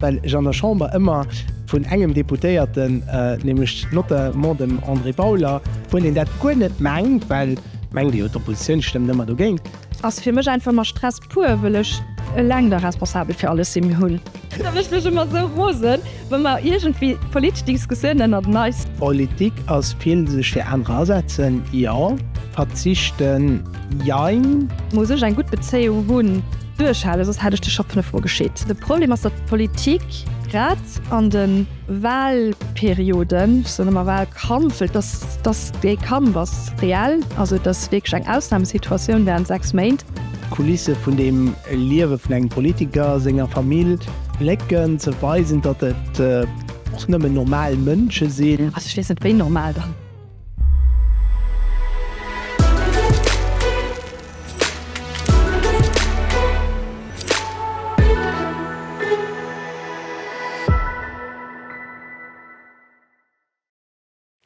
Well ech an der Chamber ëmmer vun engem Deputéierten, nämlech notamment dem André Bauler, wou een dat guer net mengt, well mengt ee jo d'Oppositioun stëmmt ëmmer dogéint. Ass fir mech einfach ëmmer Stress pur, wëll ech eleng da responsabel fir alles sinn. Mir hunn. Da mécht mech ëmmer esou rosen, wa mer iergendwéi politesch Diskussioun ënnert eneis. Politik ass vill sech fir anerer asetzen, jo. Verzichten, jein. Muss ech eng gutt Bezéiung hunn. Duerchhalen, soss hätt ech dech scho fënnef Mol geschitt. De Problem ass, datt d'Politik grad an de Wahlperioden, ech soen ëmmer Wahlkampf, well dass, dass dee Kampf ass reell, also et ass wierklech eng Ausnahmesituatioun während sechs Méint, D'Kulisse vun dem Liewe vun engem Politiker, senger Famill, Blécken ze weisen, datt et och nëmmen normal Mënsche sinn. Also ech weess net, wéi normal dann?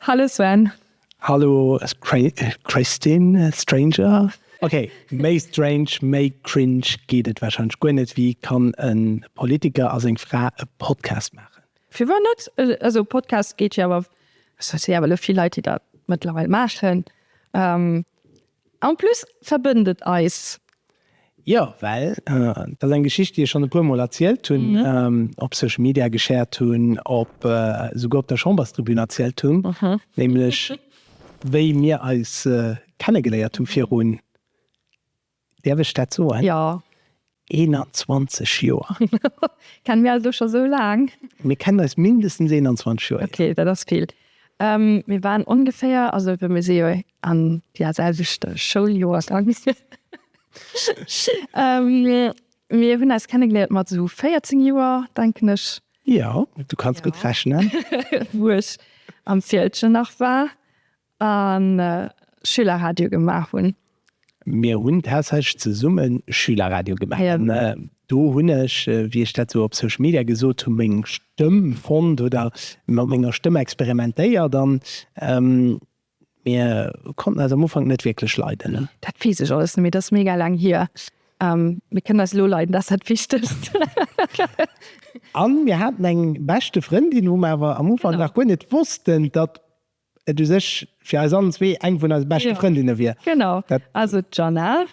Hallo Sven. Hallo Christine, Stranger, ok méi strange, méi cringe geet et warscheinlech guer net, wéi kann en Politiker a seng Fra e Podcast maachen? Fir wou net? Also Podcast geet jo awer, se si awer elo vill Leit, déi dat mëttlerweil maachen. En plus verbënnt et eis. Jo, well dat ass eng Geschicht, déi ech schonn e puer Mol erzielt hunn, op Social Media geshared hunn, op esouguer op der Chamberstribün erzielt hunn, nämlech wéi mir eis kennegeléiert hu virun Däerf ech dat soen? Jo. 21 Joer. Kennen mir eis elo scho esou laang? Mir kennen eis mindestens 21 Joer, jo. Ok, dat ass vill. Mir waren ongeféier, also well mir si jo an der selwechte Schouljoer gaangen, mir hunn eis kennegeléiert mat esou 14 Joer, denken ech. Jo, du kanns gutt rechnen. Wou ech am Fieldgen nach war. A Schülerradio gemaach hunn. Mir hunn tatsächlech zesumme Schülerradio gemaach. An do hunn ech, wéi ech dat sou op Social Media gesot hunn, meng Stëmm fonnt oder mat menger Stëmm experimentéiert. An mir konnten eis am Ufank net wierklech leiden. Dat weess ech alles net méi, dat ass mega laang hier. Mir kënnen eis elo leiden, dat ass dat Wichtegst. A mir haten eng beschte Frëndin, wou mer awer am Ufank nach guer net wossten, datt Et u sech fir eis allen zwee eng vun eise beschte Frëndinne wier. Genau, also d'Jeanna.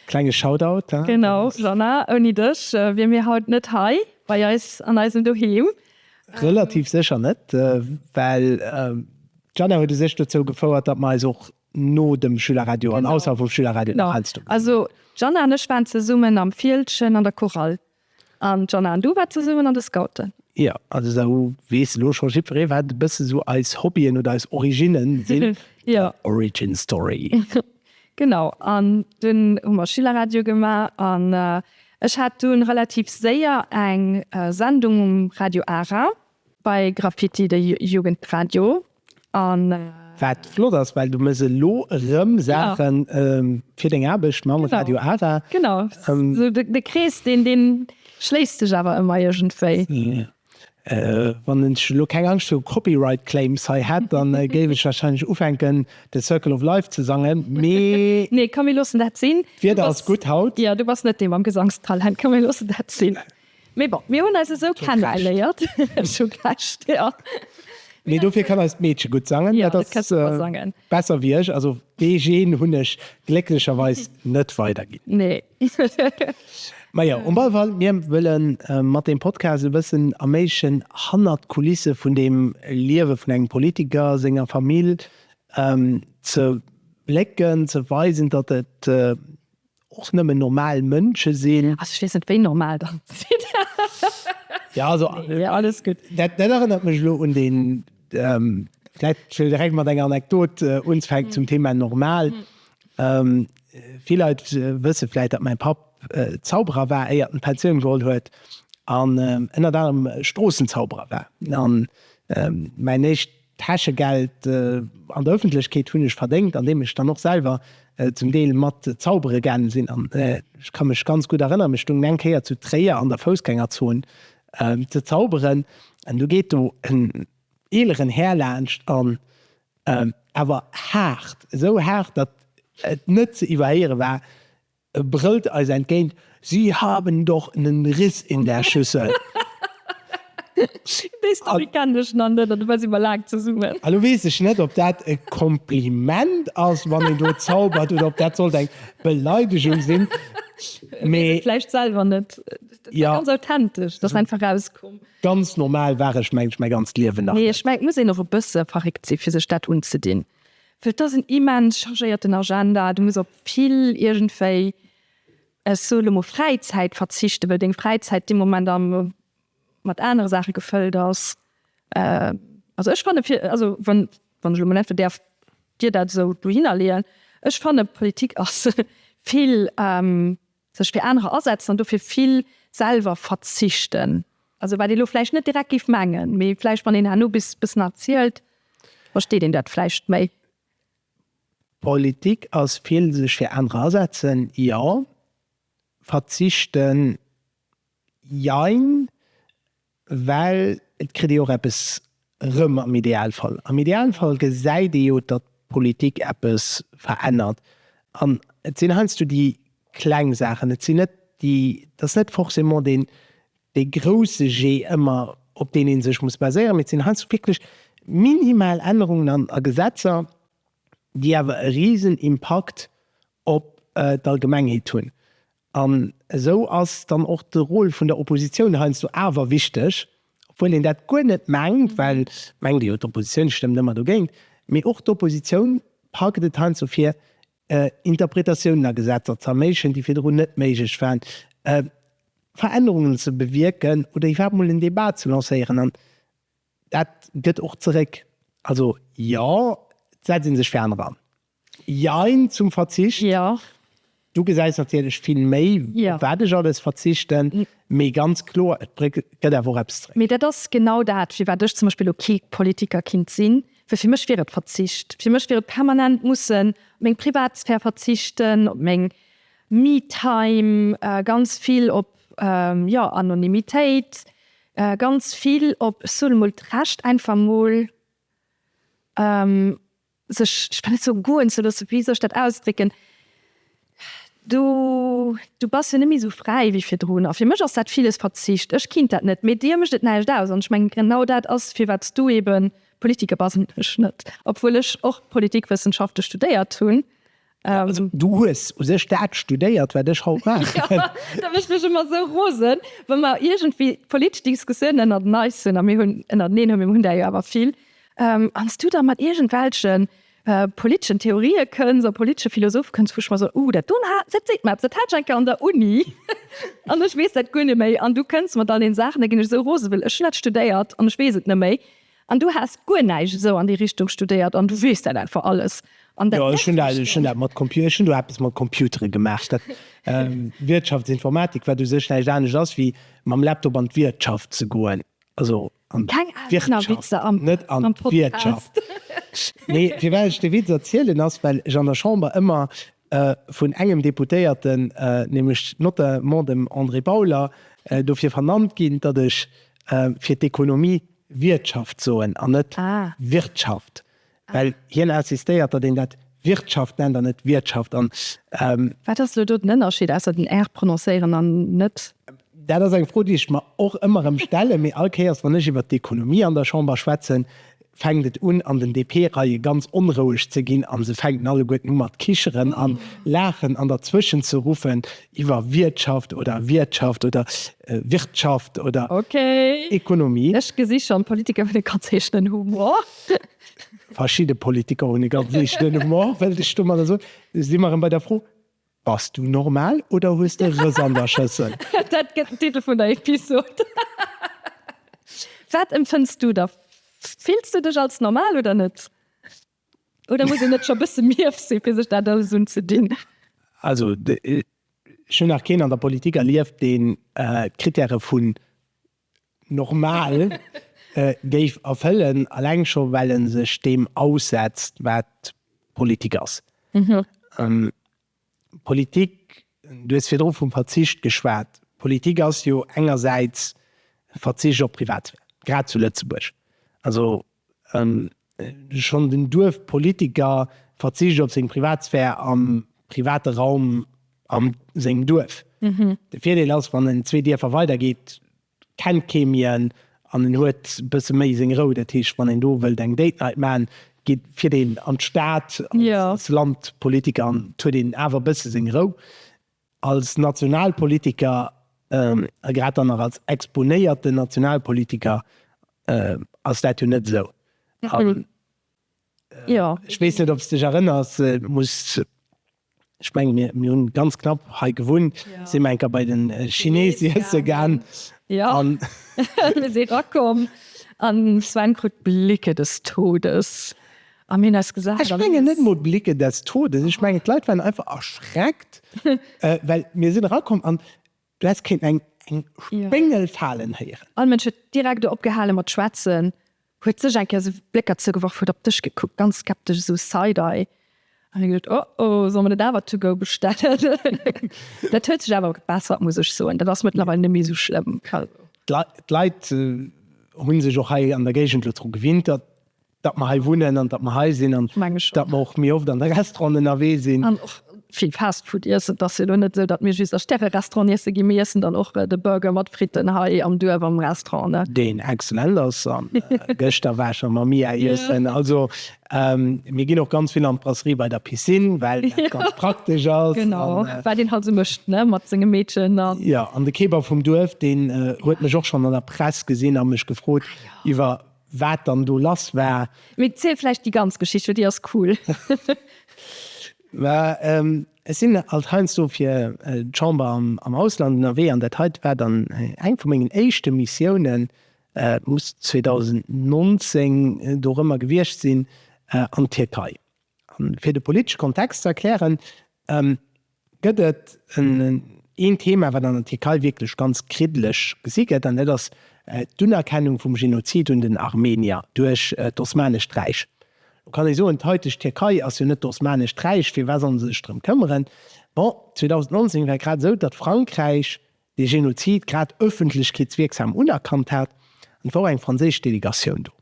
Klenge Shoutout, he? Genau, Jeanna, ouni dech wier mir haut net hei bei eis an eisem Doheem. Relativ sécher net, well d'Jeanna huet u sech dozou gefouert, datt mer eis och no dem Schülerradio an ausserhalb vum Schülerradio nach heiansdo gesinn hunn. Genau, also d'Jeanna an ech waren zesummen am Fieldgen an der Chorale. An d'Jana an du waart zesummen an de Scouten? Jo, also da weess elo scho jiddweree wat e bësse sou eis Hobbyen oder eis Originne sinn. Jo. Origin story. Genau, an dunn hu mer Schülerradio gemaach an ech hat dunn relativ séier eng Sendung um Radio Ara bei Graffiti, de Jugendradio, Wat flott ass, well du méchs elo erëm Saache fir deng Aarbecht mam Radio ARA. Genau, esou de Krees, deen schléisst sech awer ëmmer iergendwéi. Wann ech elo keng Angscht viru Copyright Claims hei hätt, da géif ech warscheinlech ufänken, The Circle of Life ze sangen, mee. Nee, komm mir loossen dat sinn. D'Wieder ass gutt haut. Jo, du bass net dee mam Gesangstalent. Komm mir loossen dat sinn. Mee bon, mir hunn eis esou kennegeléiert. Ech hu Recht, jo. Mee dofir kann eist Meedche gutt sangen. Jo, dat ka super sangen. Dat ass besser wéi ech. Also dee Gen hunn ech glécklecherweis net weiderginn. Nee. Majo, um alle Fall, mir wëlle mat deem Podcast e bëssen erméiglechen, hannert d'Kulisse vun dem Liewe vun engem Politiker, senger Famill ze blécken, ze weisen, datt et Och nëmmen normal Mënsche sinn. Also ech weess net wéi normal der sidd. Jo also alles gutt. Dat erënnert mech elo un deen, vläit wëll direkt mat enger Anekdot unzfänken zum Thema normal. Vill Leit wësse vläit, datt mäi Papp Zauberer war éier en d'Pensioun geholl huet an ënnert anerem Stroossenzauberer war. An mäin éischt Täschegeld an der Öffentlechkeet hunn ech verdéngt, andeem ech dann och selwer zum Deel mat zaubere gaange sinn. An ech ka mech ganz gutt erënneren, ech stoungen eng Kéier zu Tréier an der Foussgängerzon ze zauberen an du geet do en eeleren Här laanscht an awer haart, esou haart, datt et net ze iwwerhéiere war, E brëllt eis entgéint, Sie haben doch nen Riss in der Schüssel! Déi Story kennen ech nach net, an dobäi si mer laang zesummen. Elo weess ech net, ob dat e Kompliment ass, wann een do zaubert, oder ob dat sollt eng Beleidegung sinn, mee. Weess et vläicht selwer net. Dat war ganz authentesch, dat ass einfach erauskomm. Ganz normal war ech, mengen ech, mäi ganzt Liewen nach net. Nee, ech mengen, et muss een och e bësse verréckt sinn, fir sech dat unzedinn. Well t'ass en immens chargéierten Agenda. Du muss op vill iergendwéi, ech soe lo mol Fräizäit verzichten, well deng Fräizäit dee Moment am, mat anere Saache gefëllt ass. Also ech fanne fir, also wann, wann ech lo mol einfach däerf dir dat esou dohinner leeën, ech fanne Politik ass vill. Sech fir anerer asetzen an dofir vill selwer verzichten. Also wat ee lo vläicht net direkt géif mengen, mee vläicht wann een herno bis bëssen erzielt, versteet een dat vläicht méi. Politik ass vill sech fir anerer asetzen, jo. Verzichten, jein. Well et kritt ee och eppes erëm am Idealfall. Am Idealfall gesäit ee jo, datt d'Politik eppes verännert. An et sinn heiansdo déi kleng Saachen, et sinn net déi, et ass net forcément deen, dee grousse Jee ëmmer, op deen ee sech muss baséieren, mee et sinn heiansdo wierklech minimal Ännerungen a Gesetzer, déi awer e Risenimpakt op d'Allgemengheet hunn. An esou ass dann och de Rôle vun der Oppositioun heiansdo awer wichteg, obwuel een dat guer net mengt, well mengt ee jo, d'Oppositioun stëmmt ëmmer dogéint, mee och d'Oppositioun packt et heiansdo vir, Interpretatiounen a Gesetzer z'erméiglechen, déi virdrun net méiglech waren, Verännerungen ze bewierken oder iwwerhaapt emol en Débat ze lancéieren. An dat gëtt och zeréck. Also jo, et setzt ee sech fir aner an. Jein zum Verzicht. Jo. Du gesäis natierlech vill méi, op wat ech alles verzichten, mee ganz kloer, et gëtt awer och eppes zréck. Mee dat ass genau dat, firwat ech zum Beispill elo kee Politiker kinnt sinn, well fir mech wier et Verzicht. Fir mech wier et permanent mussen op meng Privatsphär verzichten, op meng Me-Time, ganz vill op, jo, Anonymitéit, ganz vill op, ech soen emol, d'Recht einfach emol, sech, ech kann net soen goen ze loossen, wéi soll ech dat ausdrécken, du, du bass jo net méi esou fräi wéi virdrun. A fir mech ass dat villes Verzicht, ech kinnt dat net, mee dir mécht et näischt aus. An ech mengen, genau dat ass, firwat s du eebe Politiker bass an ech net, obwuel ech och Politikwëssenschafte studéiert hunn. Ähm, also, du hues u sech dat studéiert, wat ech haut maach. ja, da mech mech immer so rosen, wann mer irgendwie politesch Diskussionen ënner den Eis hunn a mir hunn ënner den hunn mir hunn der jo awer vill. Ähm, ans du da mat irgendwelchen äh, politeschen Theorie kënns a politesche Philosoph kënns vuch mer so uh, dat dun hat dat seet mat dat hat enke an der Uni an ech wees dat guer net méi an du kënns mat all den Saachen, da ginn ech so rose well ech net studéiert an ech wees et net méi. An du has guer näischt esou an déi Richtung studéiert an du weess dat einfach alles? An dat merkt een eis och net. Ech hunn do eppes mat Computere gemaach. Dat Wirtschaftsinformatik, wat u sech näischt anescht ass wéi mam Laptop an d'Wirtschaft ze goen. Also an d'Wirtschaft, net an d'Wirtschaft. Keng Aarbechtserwitzer am Podcast. Nee, firwat ech de Witz erzielen ass, well ech an der Chamber ëmmer vun engem Deputéierten, nämlech notamment dem André Bauler, dofir vernannt ginn, datt ech fir d'Ekonomie Wiertschaft soen an net Wirtschaft, well hien insistéiert, datt een dat Wirtschaft nennt an net Wiertschaft. Wat ass elo do den Ënnerscheed, ausser den r prononcéieren an net? Dat ass eng Fro, déi ech mer och ëmmer erëm stellen, mee all Kéiers, wann ech iwwert d'Ekonomie an der Chamber schwätzen, fänkt et un an den DP-Reie ganz onroueg ze ginn a se fänken alleguerten u mat kicheren a laachen an derzwëschen ze ruffen iwwer Wiertschaft oder Wiertschaft oder Wirtschaft oder Ekonomie. Ech gesi schonn, d'Politiker hunn e ganz eegenen Humor. Verschidde Politiker hunn e ganz eegenen Humor, wëllt ech domadder soen. Si mer erëm bei der Fro, Bass du normal oder hues de Rëss an der Schëssel? Dat gëtt den Titel vun der Episod. Wat empfënns du da? Fills du dech als normal oder net? Oder muss een net scho bësse mief sinn, fir sech dat alles unzedinn? Also, ech hunn nach keen an der Politik erlieft, deen d'Krittäre vun normal géif erfëllen, alleng scho well e sech deem aussetzt wat Politik ass. Politik, du hues virdru vum Verzicht geschwat, Politik ass jo engersäits Verzicht op Privatsphär, grad zu Lëtzebuerg. Also Schonn den Duerfpolitiker verzicht op seng Privatsphär am private Raum a sengem Duerf. De Virdeel ass, wann en zwee Dierfer weider geet, kennt kee méi en an en huet e bësse méi seng Rou. Dat heescht, wann een do wëllt eng Date Night maachen, geet fiert een an d'Stad. Als Landpolitiker huet een awer e bësse seng Rou. Als Nationalpolitiker, a grad dann nach als exponéierten Nationalpolitiker, ass dat jo net esou. Ech weess net, ob s dech erënners, ech mengen, mir hu ganz knapp hei gewunnt, si mer eng Kéier bei de Chinese iesse gaang. Jo, mir si erakomm an de Sven krut Blicke des Todes. Ech mengen net emol d'Blicke des Todes, ech mengen d'Leit waren einfach erschreckt, well mir sinn erakomm an du häss kéinten eng Spéngel falen héieren. All Mënsch huet direkt opgehale mat schwätzen, huet sech eng Kéier esou Blécker zougeworf, huet op dech gekuckt, ganz skeptesch, esou side-eye. An ech gesot, Oh oh, soll mer net awer to go bestellen? Dat huet sech awer gebessert, muss ech soen, dat ass mëttlerweil net méi esou schlëmm. D'Leit hunn sech och hei an der Géigend elo dru gewinnt. datt mer hei wunnen an datt mer hei sinn an datt mer och méi oft an de Restauranten ënnerwee sinn. An och vill Fast Food iessen. Et ass jo elo net esou, datt mir just a Stäre-Restauranten iesse ginn. Mir iessen dann och de Burger mat Fritten hei am Duerf am Restaurant. Deen excellent ass. A gëschter war ech am Mamiya iessen. Also mir ginn och ganz vill an d'Brasserie bei der Piscine, well dat ganz praktesch ass. Genau, wat een halt esou mécht mat senge Meedchen. Jo, an de Kebab vum Duerf, deen huet mech och schonn an der Press gesinn a mech gefrot iwwer. waat dann do lass war. Mee ziel vläicht déi ganz Geschicht, well déi ass cool. Ech sinn alt heiansdo fir d'Chamber am Ausland ënnerwee an dat heite war dann eng vu mengen éischte Missiounen, muss 2019 dorëmmer gewiescht sinn, an d'Tierkei. An fir de politesche Kontext ze erklären, Gëtt et een Thema, wat an der Tierkei wierklech ganz kriddeleg gesi gëtt, an dat ass d'Unerkennung vum Genozid un den Armenier duerch d'Osmanescht Räich. Lo kann ee soen, d'haiteg Tierkei ass jo net d'Osmanescht Räich, firwat solle se sech drëm këmmeren? Bon, 2019 war et grad esou, datt Frankräich dee Genozid grad ëffentlechkeetswierksam unerkannt hat, an et war och eng franséisch Delegatioun do.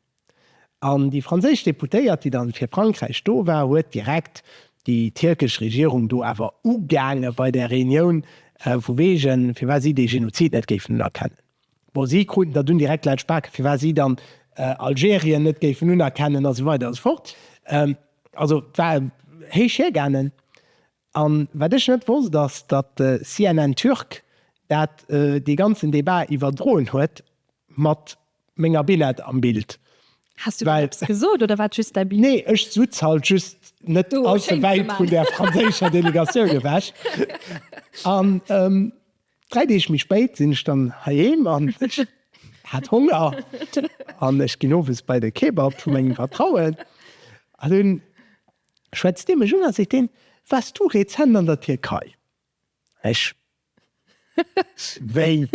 An déi franséisch Deputéiert, déi dann fir Frankräich do war, huet direkt déi tierkesch Regierung do awer ugaangen bei där Reunioun, vu wegen, firwat si dee Genozid net géifen unerkennen. Bon, si kruten der dunn direkt laut Spaken, firwat si dann Algerien net géifen unerkennen, a sou weider a sou fort. Also, et war héich hiergaangen. An wat ech net wosst ass, datt CNN Türk dat dee ganzen Debat iwwerdroen huet mat menger Billett am Bild. Has du dann eppes gesot oder war et just däi Blik? Nee, ech sutz halt just net allze wäit vun der franséischer Delegatioun ewech. An dräi Deeg méi spéit sinn ech dann heiheem an ech hat Honger an ech ginn owes bei de Kebab vu mengem Vertrauen an hunn schwätzt dee mech un a seet deen, Waars du rezent an der Tierkei? Ech, Wéi?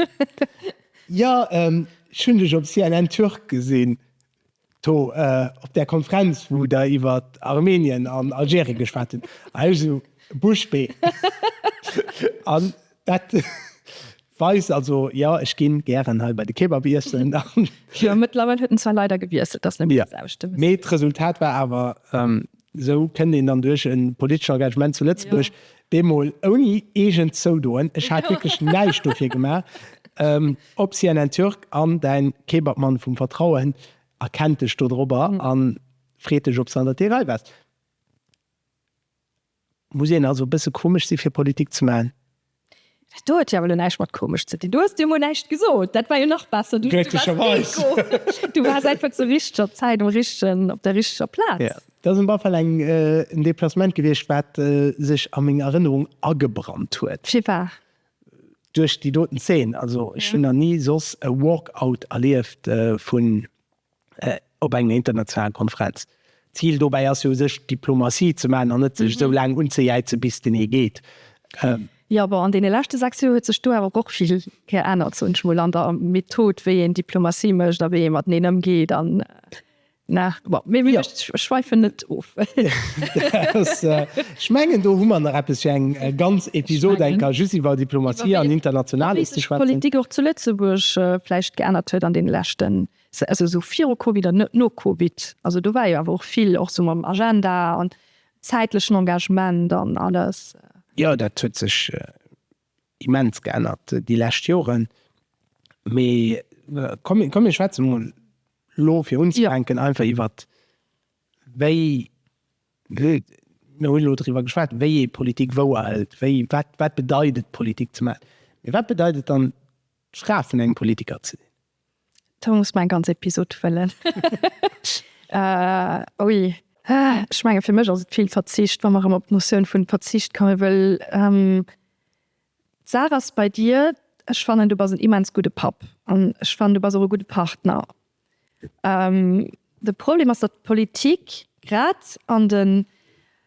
Jo, ech hunn dech op CNN Turk gesinn, do op där Konferenz, wou der iwwer Armenien an Algerien geschwat hutt. A ech esou, Bouche bée! An Dat weist also, jo, ech ginn gären hei bei de Kebab iessen. Jo, mëttlerweil huet en zwar leider gewiesselt, dass net alles ausstëmmt, mee. Mee d'Resultat war awer, esou kënnt een dann duerch e politesche Engagement zu Lëtzebuerg, bemol ouni eegent zoudoen, ech hat wierklech näischt dofir gemaach, op CNN Türk an däin Kebabmann vum Vertrauen erkennt dech dodrobber a freet dech, ob s du an der Tierkei bass. Muss een also e bësse komesch si fir Politik ze maachen? Dat do huet jo awer lo näischt mat komesch ze dinn. Du hues jo emol näischt gesot. Dat war jo nach besser. Du waars Deko. Du waars einfach zur richteger Zäit um richtegen, op der richteger Plaz. Jo, dat ass op alle Fall eng, en Deplacement gewiescht, wat sech a meng Erënnerung agebrannt huet. Firwat? Duerch déi doten Zeen. Also ech hunn nach ni soss e Walk-Out erlieft vun op enger internationaler Konferenz. D'Zil dobäi ass jo u sech Diplomatie ze maachen an net sech esou laang unzejäizen, bis den ee geet. Jo, bon, an deene leschte sechs Joer huet sech do awer och vill geännert, soen ech mol, an der Method, wéi een Diplomatie mécht a wéi ee mateneen ëmgeet an, ne? Bon, mee ech schwäifen net of. Ech mengen, do hu mer nach eppes fir eng ganz Episod enker, just iwwer Diplomatie an Internationales ze schwätzen. Wéi sech d'Politik och zu Lëtzebuerg vläicht geännert huet an deene leschten Se ass esou viru Covid an net no Covid. Also do war jo awer och vill, och sou mam Agenda an zäitlechen Engagement an alles. Jo, dat huet sech immens geännert déi lescht Joren. Mee komm, komm mir schwätze mol elo fir unzefänken einfach iwwert wéi, mir hunn elo driwwer geschwat, wéi ee Politik wou hëlt, wéi, wat, wat bedeit et Politik ze maachen? Mee wat bedeit et dann d'Fra vun engem Politiker ze sinn? Do muss mer eng ganz Episod fëllen. Ui. Ech menge fir mech ass et vill Verzicht, wa mer erëm op d'Notioun vun Verzicht komme wëll. D'Saach ass bei dir, ech fannen du bass en immens gudde Papp an ech fannen du bass och e gudde Partner. De Problem ass, datt d'Politik grad an den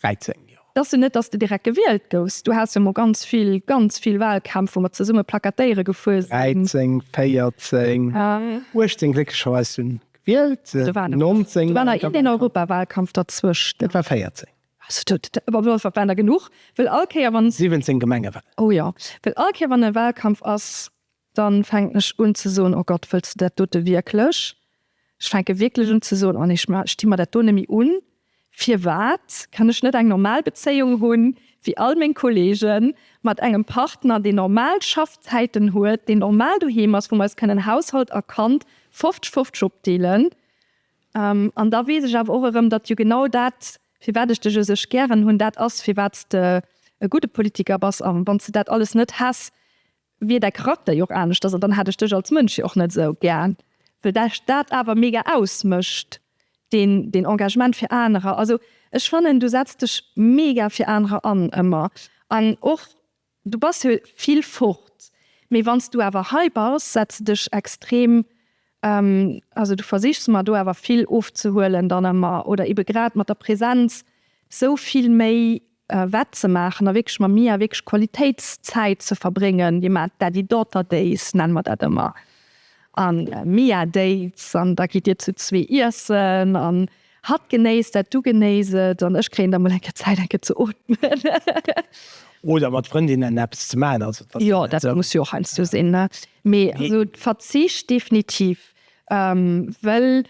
13 Joer. Dass du net, dass de direkt gewielt gouws. Du haas jo mol ganz vill, ganz vill Wahlkämpf wou mer zesumme plakatéiere gefuer sin. 13, 14, 18 glécklecherweis hun gewielt, 19. Do war nach een Europawahlkampf derzwëscht. Dat war 14. Waren der genuch, well all Kéier wann. 17 Gemengewahl. Oh jo, well all Kéier wann e Wahlkampf as. Dann fänken ech un ze soen, Oh Gott, wëlls de dat dote wierklech? Ech fänke wierklech un ze soen, Oh nee, ech sti mer dat do net méi un. Firwat kann ech net eng normal Bezéiung hunn, wéi all meng Kollegen, mat engem Partner, deen normal Schaffzäiten huet, deen normal doheem ass, wou mer eis kënnen Haushalt a Kand fofzeg-fofzeg opdeelen? An da weess ech awer och erëm, datt jo genau dat, firwat ech dech esou gären hunn, dat ass, firwat s de e gudde Politiker bass. A wann s de dat alles net häss, wier däi Charakter jo och aneschters an dann hätt ech dech als Mënsch jo och net esou gär, well dech dat awer mega ausmécht, deen deen Engagement fir anerer. Also ech fannen du setz dech mega fir anerer an ëmmer an och du bass jo vill fort, mee wann s du awer hei bass setz de dech extrem Also du versichs mer do awer vill ofzehuelen dann ëmmer, oder ebe grad mat der Präsenz sou vill méi wettzemaachen a wierklech mam Mia wierklech Qualitéitszäit ze verbréngen. Dir maacht Daddy-Daughter Days, nenne mer dat ëmmer, a Mia Dates an da gitt dir zu zwee iessen an hatt genéisst dat, du genéiss et an ech kréien da mol eng Kéier Zäit eng Kéier ze ootmen. Oder mat Frëndinnen eppes ze maachen. Jo dat muss jo och heiansdo sinn. Mee also Verzicht definitiv, well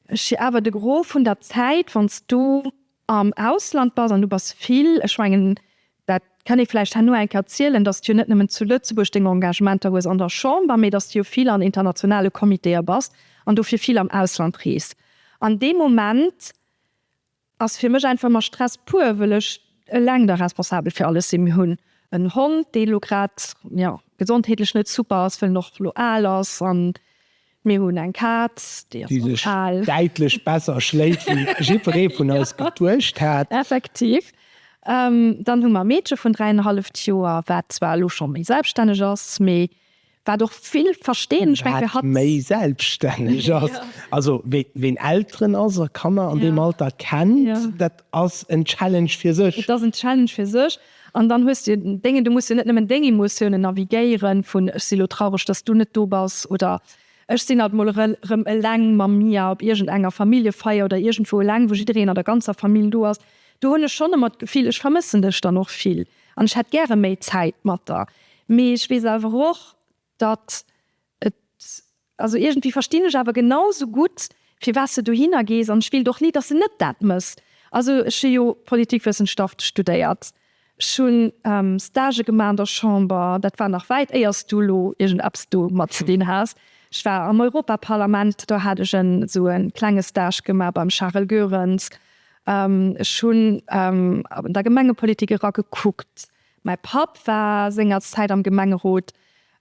ech jo awer de Gros vun der Zäit, wann s du am Ausland bass, an du bass vill, ech mengen dat kann ee vläicht herno eng Kéier zielen, datt s du jo net nëmmen zu Lëtzebuerg deng Engagementer hues an der Chamber, mee datt s du jo vill an internationale Comitéë bass an dofir vill am Ausland reest. An dee Moment ass fir mech einfach mer Stress pur wëll ech eleng da responsabel fir alles sinn. Mir hunn en Hond dee lo grad jo gesondheetlech net super ass, well en och lo al ass an mir hunn eng Kaz déi ass och al. Däitlech besser schléit wéi jiddweree vun eis geduecht hat. Effektiv. Dann hu mer e Meedche vun 3,5 Joer wat zwar lo scho méi selbststänneg ass, mee Wat och vill verstinn, ech mengen, wat méi selbststänneg ass, also ween Elteren ass a Kanner an deem Alter kennt, dat ass en Challenge fir sech. Et ass en Challenge fir sech an dann hues de déngen, du muss jo net nëmmen déng Emotiounen navigéieren, vun ech si lo traureg, datt s du net do bass oder ech sinn alt mol erëm eleng mam Mia op iergend enger Familljefeier oder iergendwou eleng, wou jiddereen an der ganzer Famill do ass. Do hunn ech schonn ëmmer d'Gefill, ech vermëssen dech dann och vill. An ech hätt gäre méi Zäit mat der. Mee ech weess awer och, datt et. Also iergendwéi verstinn ech awer genau sou gutt, firwat s de dohinner gees. An ech wéilt och ni, datt s de net dat méchs. Also ech hu jo Politikwëssenschaft studéiert. Ech hu Stagë gemaach an der Chamber. Dat war nach wäit éier s du elo iergendeppes domat ze dinn has. Ech war am Europaparlament. Do hat ech esou e klenge Stage gemaach beim Charel Goerens. Ech hunn an der Gemengepolitik era gekuckt. Mäi Papp war sengerzäit am Gemengerot.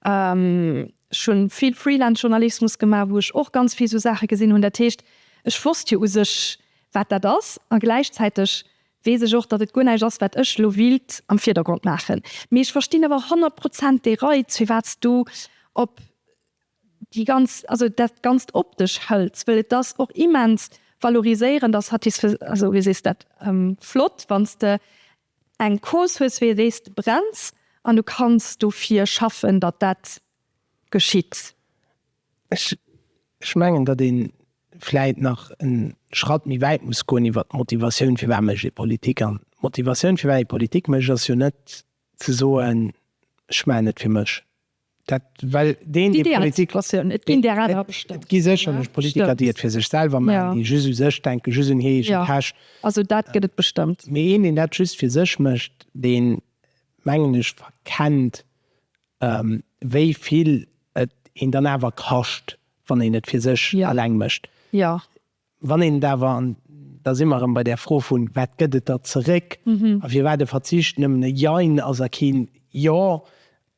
Ech hunn vill Freelance-Journalismus gemaach, wou ech och ganz vill esou Saache gesinn hunn. Dat heescht, ech wosst jo u sech, wat dat ass. A gläichzäiteg weess ech och, datt et guer näischt ass, wat ech elo wéilt am Virdergrond maachen. Mee ech verstinn awer honnert Prozent dee Reiz, firwat s du op. déi ganz, also dat ganzt optesch hëltz, well et ass och immens valoriséierend a satisfais, also wéi sees dat, flott wann s de eng Cause hues wéi déi s de brenns an du kanns dofir schaffen, datt dat geschitt. Ech, ech mengen, datt ee vläit nach e Schratt méi wäit muss goen iwwert d'Motivatioun, firwat mécht ee Politik. An d'Motivatioun, firwat ee Politik mécht, ass jo net ze soen, ech maachen et fir mech. Dat well deen, dee Politik. Et ginn där awer, bestemmt, ne? Et gi sécherlech Politiker, déi et fir sech selwer maachen, déi just u sech denken, just un hir eege Täsch. Jo, also dat gëtt et bestëmmt. Mee een, deen dat just fir sech mécht, dee mengen ech verkennt, wéi vill et een dann awer kascht, wann een et fir sech eleng mécht. Jo. Wann een et awer, an da si mer erëm bei där Fro vun wat gëtt et da zeréck a firwat e Verzicht nëmmen e Jein ass a keen Jo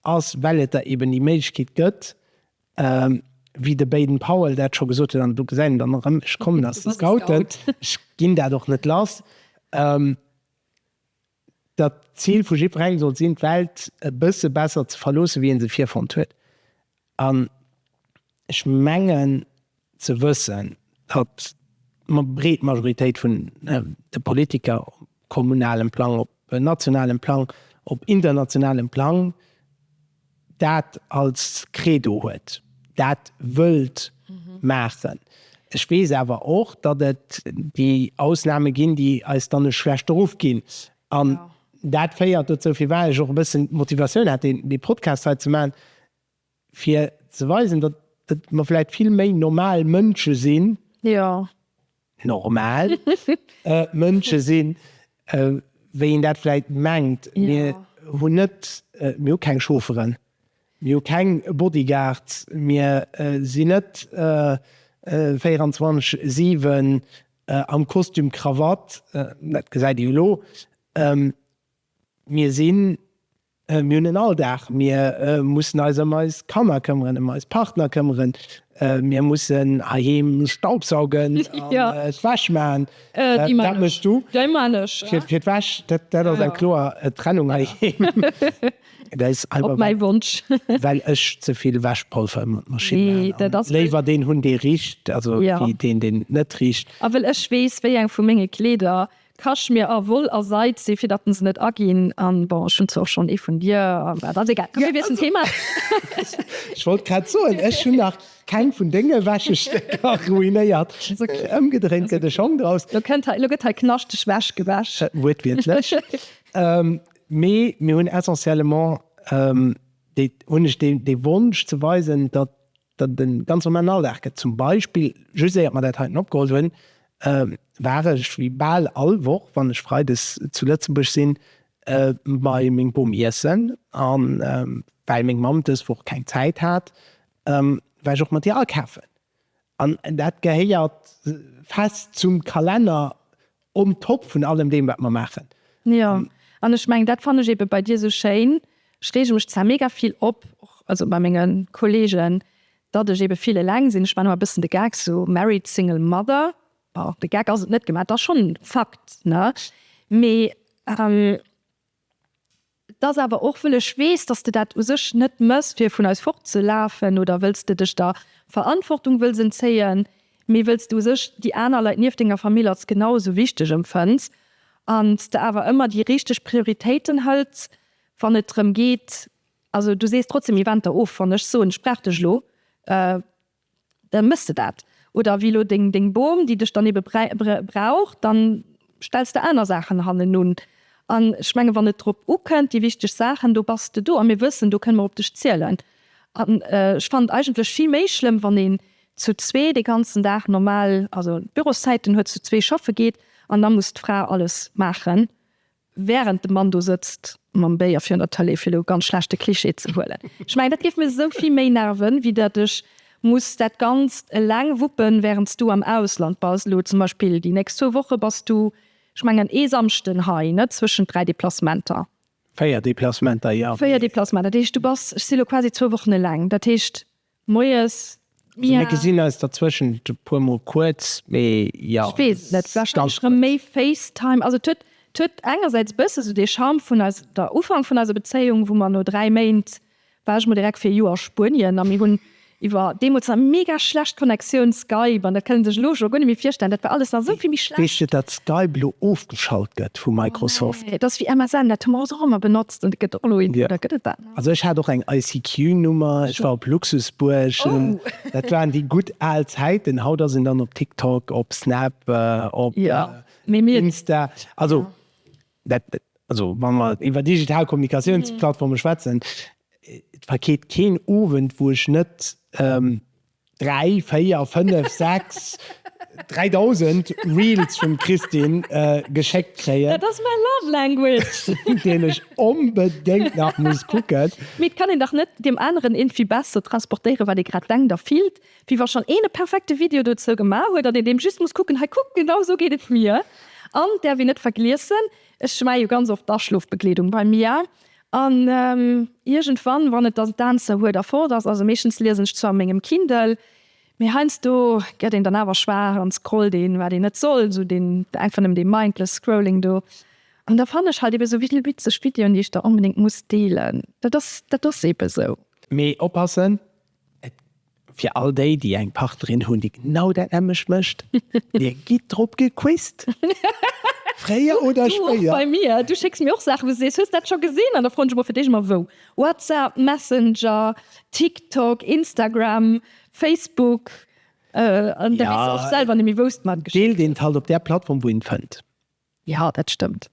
ass, well et der eben déi Méiglechkeet gëtt, wéi de Baden-Powell dat scho gesot huet, an do gesäit een dann erëm, ech kommen aus de Scouten, ech ginn dat och net lass. datt d'Zil vu jiddwerengem sollt sinn, d'Welt e bësse besser ze verloossen, wéi ee se virfonnt huet. An ech mengen ze wëssen, datt mer, breet Majoritéit vun de Politiker, op kommunalem Plang, op nationalem Plang, op internationalem Plang, dat als Credo huet, dat wëllt maachen. Ech weess awer och, datt et déi Ausnahme ginn, déi eis dann e schlechte Ruff ginn. An dat féiert dozou, firwat ech och e bëssen d'Motivatioun hat, dee Podcast hei ze maachen, fir ze weisen, datt mer vläicht vill méi normal Mënsche sinn, normal Mënsche sinn, wéi een dat vläicht mengt. Mir hunn net, mir hu keng Chaufferen, mir hu keng Bodyguards, mir sinn net 24, 7 am Kostüm, Krawatt, dat gesäit ee jo elo, mir sinn Mir hunn en Alldag, mir mussen eis ëm eis Kanner këmmeren, ëm eis Partner këmmeren, mir mussen heiheem staubsaugen an d'Wäsch maachen. Dat méchs du? Fir d'Wäsch, dat ass eng kloer Trennung heiheem. Dat ass einfach well ech ze vill Wäschpolver ëmmer d'Maschinn maachen an léiwer deen hunn dee richt wéi deen deen net richt. A well ech weess wéi eng vu menge Kleeder Kaschmir a Woll a Seid si fir datten se net aginn an bon ech hunn zwar och schonn ee vun dir an dat ass egal komm mir wiesselen d'Thema. Ech wollt grad soen, ech hunn nach keng vun denge Wäschestécker ruinéiert. Ëmgedréint gëtt e Schong draus. Lo kënnt hei, lo gëtt hei knaschteg Wäsch gewäsch. Wuertwiertlech. Mee mir hunn essentiellement déi hunn ech dee Wonsch ze weisen, datt De ganz normalen Alldag gëtt zum Beispill, just éiert mer dat heiten opgeholl hunn, war ech wéi bal all Woch, wann ech freides zu Lëtzebuerg sinn, bei meng Bom iessen. A well meng Mamm dës Woch keng Zäit hat, war ech och mat hir akafen. An dat gehéiert fest zum Kalenner On top vun allem deem wat mer maachen. Jo, an ech mengen dat fannen ech eben bei dir sou schéin, ech reege mech zwar mega vill op, och also bei mengen Kollegen, datt ech eben vill eleng sinn, ech man ëmmer bëssen de Gag sou married single mother, bon de Gag ass et net gemat, et ass schonn Fakt ne, mee Et ass awer och, wëll ech weess, dass de dat u sech net mëss fir vun eis fortzelafen oder wëlls de dech der Verantwortung wëlls entzéien, mee wëlls de u sech déi aner Leit nieft denger Famill als genau esou wichteg empfënns an s de awer ëmmer déi richteg Prioritéiten hëls wann et drëm geet. Also du sees trotzdem Eventer of, wann ech soen, ech brauch dech elo. da mëss de dat. Oder wéi elo deng deng Bom, déi dech dann ebe brauch, da stells de aner Saachen hannenun. An ech menge wann et drop ukënnt, déi wichteg Saachen, do bass de do. A mir wëssen, do kënne mer op dech zielen. An ech fannen et eigentlech vill méi schlëmm, wann een zu zwee dee ganzen Dag normal, also Büroszäiten huet, zu zwee schaffe geet an da muss d'Fra alles maachen, Während de Mann do sëtzt mam Béier virun der Tëlee, fir elo ganz schlecht de Cliché ze huelen, ech mengen, dat géif mir esou vill méi nerven, wéi datt ech muss dat Ganzt eleng wuppen, während s du am Ausland bass. Elo zum Beispill déi nächst zwou Woche bass du, ech mengen, ee Samschden hei, net zwëschent dräi Deplacementer. Véier Deplacementer, jo. Véier Deplacementer, dat heescht, du bass, ech si elo quasi zwou Wochen eleng. Dat heescht, Moies. Also mir gesinn eis derzwëschent e puer mol kuerz, mee jo. Ech weess et net, warscheinlech rëm méi FaceTime. Also et huet, et huet engersäits e bësse esou dee Charme vun eis, der Ufank vun eiser Bezéiung, wou mer no dräi Méint, war ech mol direkt fir e Joer a Spuenien a mir hunn iwwer, deemools nach, mega schlecht Connectioun, Skype. An dat kënnt een sech elo scho guer net méi virstellen, dat war alles nach esou vill méi schlecht. Weess de, datt Skype elo ofgeschalt gëtt vu Microsoft? Oh nee, dat ass wéi MSN, dat hu mer ons och ëmmer benotzt an dat gëtt och elo, oder gëtt et dat? Also ech hat och eng ICQ Nummer, ech war op Luxusbuerg, dat waren déi gutt al Zäiten. Haut ass een dann op TikTok, op Snap, op Insta, also dat, also wa mer iwwer digital Kommunikatiounsplattforme schwätzen, et vergeet keen Owend wou ech net Dräi, véier, fënnef, sechs, dräidausend Reels vum Christine geschéckt kréien. Dat ass mäi Love Language! Deen ech onbedéngt nach muss kucken. Mee et kann een dach net deem aneren irgendwie besser transportéieren, wat ee grad denkt a fillt, wéi wa schonn een e perfekte Video dozou gemaach huet an een deem just muss kucken, Hei kuck, genau esou geet et mir! An, däerf een net vergliessen, ech schmei jo ganz oft d'Aschlofbegleedung bei mir, An iergendwann, wann et dann d'Answer huet a fort ass, also meeschtens liesen ech zwar a mengem Kindle, mee heiansdo gëtt een dann awer schwaach an scrollt een, wat een net soll, esou deen, einfach nëmmen dee mindless scrolling do. An da fannen ech halt ebe esou vill witzeg Videoen, déi ech da onbedéngt muss deelen. Dat ass, dat ass ebe esou. Mee oppassen, Et fir all déi, déi eng Partnerin hunn, déi genau dat nämmlecht mécht, Dir gitt drop gequizt, fréier oder spéier. Bei mir, du schécks mir och Saachen, wou du sees, Hues dat scho gesinn? An da froen ech emol fir d'éischt emol wou, WhatsApp, Messenger, TikTok, Instagram, Facebook, an da weess du och selwer net méi, wou s de mer geschéckt hues. Deelt een d'Halt op där Plattform, wou een fënnt. Jo, dat stëmmt.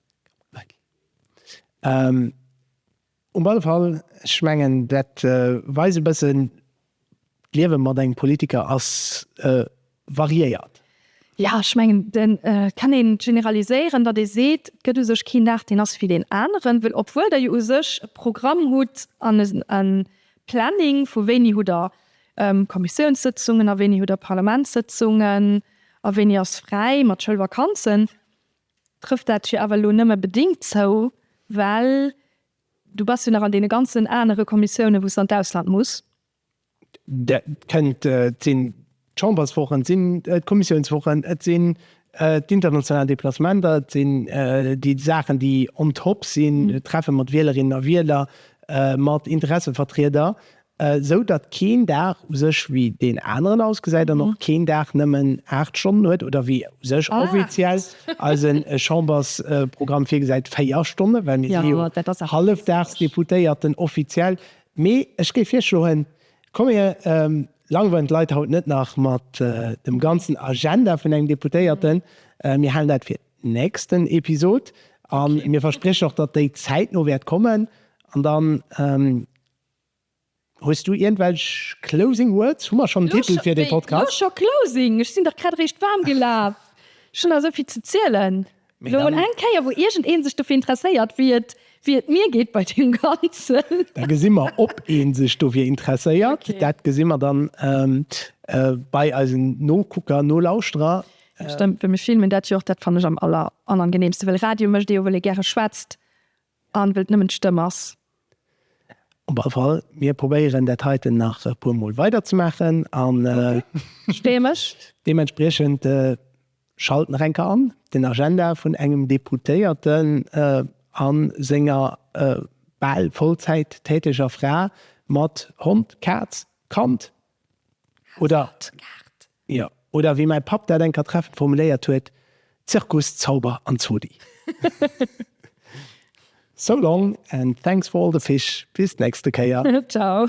Um alle Fall, ech mengen, dat weist e bëssen, d'Liewe mat engem Politiker ass variéiert. Jo, ech mengen, et kann ee generaliséieren, datt ee seet, et gëtt u sech keen Dag, deen ass wéi deen aneren. Well obwuel Der jo u sech e Programm hutt an e Planning vu wéini hutt Der Kommissiounssëtzungen a wéini hutt Der Parlamentssëtzungen a wéini ass fräi mat Schoulvakanzen, trëfft dat jo awer elo nëmme bedéngt zou, well du bass jo nach an deene ganzen anere Kommissiounen, wou s de an d'Ausland muss. Dat kënnt sinn d'Chamberswochen, et sinn d'Kommissiounswochen, et sinn d'international Deplacementer, et sinn déi Saachen, déi on top sinn, Treffe mat Wielerinnen a Wieler, mat Interessevertrieder. Esou datt keen Dag u sech wéi deen aneren ausgesäit an och keen Dag nëmmen 8 Stonnen huet, oder wéi u sech offiziell eise Chambersprogramm virgesäit 4 Stonnen, well mir si jo Hallefdagsdeputéierten offiziell. Mee ech géif virschloen, komm mir langweilen d'Leit haut net nach mat dem ganzen Agenda vun engem Deputéierten. Mir halen dat fir d'nächsten Episod a mir verspriechen och, datt déi zäitno wäert kommen an dann, Hues du ierndwelch closing words? Hu mer schonn en Titel fir dee Podcast? Mee, jo scho closing, ech sinn dach grad eréischt waarm gelaf. Ech hunn nach esou vill ze zielen. Mee dann. Elo eng Kéier, wou iergend ee sech dofir interesséiert, wéi et, wéi et mir geet bei deem Ganzen. Da gesi mer, ob ee sech dofir interesséiert. Okay. Dat gesi mer dann bei eisen Nokucker, Nolauschterer. Stëmmt, well mir filmen dat jo och, dat fannen ech am aller, aller angeneemste, well Radio mécht ee jo, well ee gäre schwätzt. An wëll et nëmmen d'Stëmm ass. Op alle Fall, mir probéieren dat heiten nach e puer Mol weider ze maachen. Ech freeë mech. Deementspriechend schalt nach eng Kéier an den Agenda vun engem Deputéierten a senger bal vollzäittäteger Fra mat Hond, Kaz, Kand, Oder, jo, oder wéi mäi Papp dat eng Kéier treffend formuléiert huet, Zirkus, Zauber an Zodi. So long and thanks for all the fish, bis d'nächste Kéier. Ciao.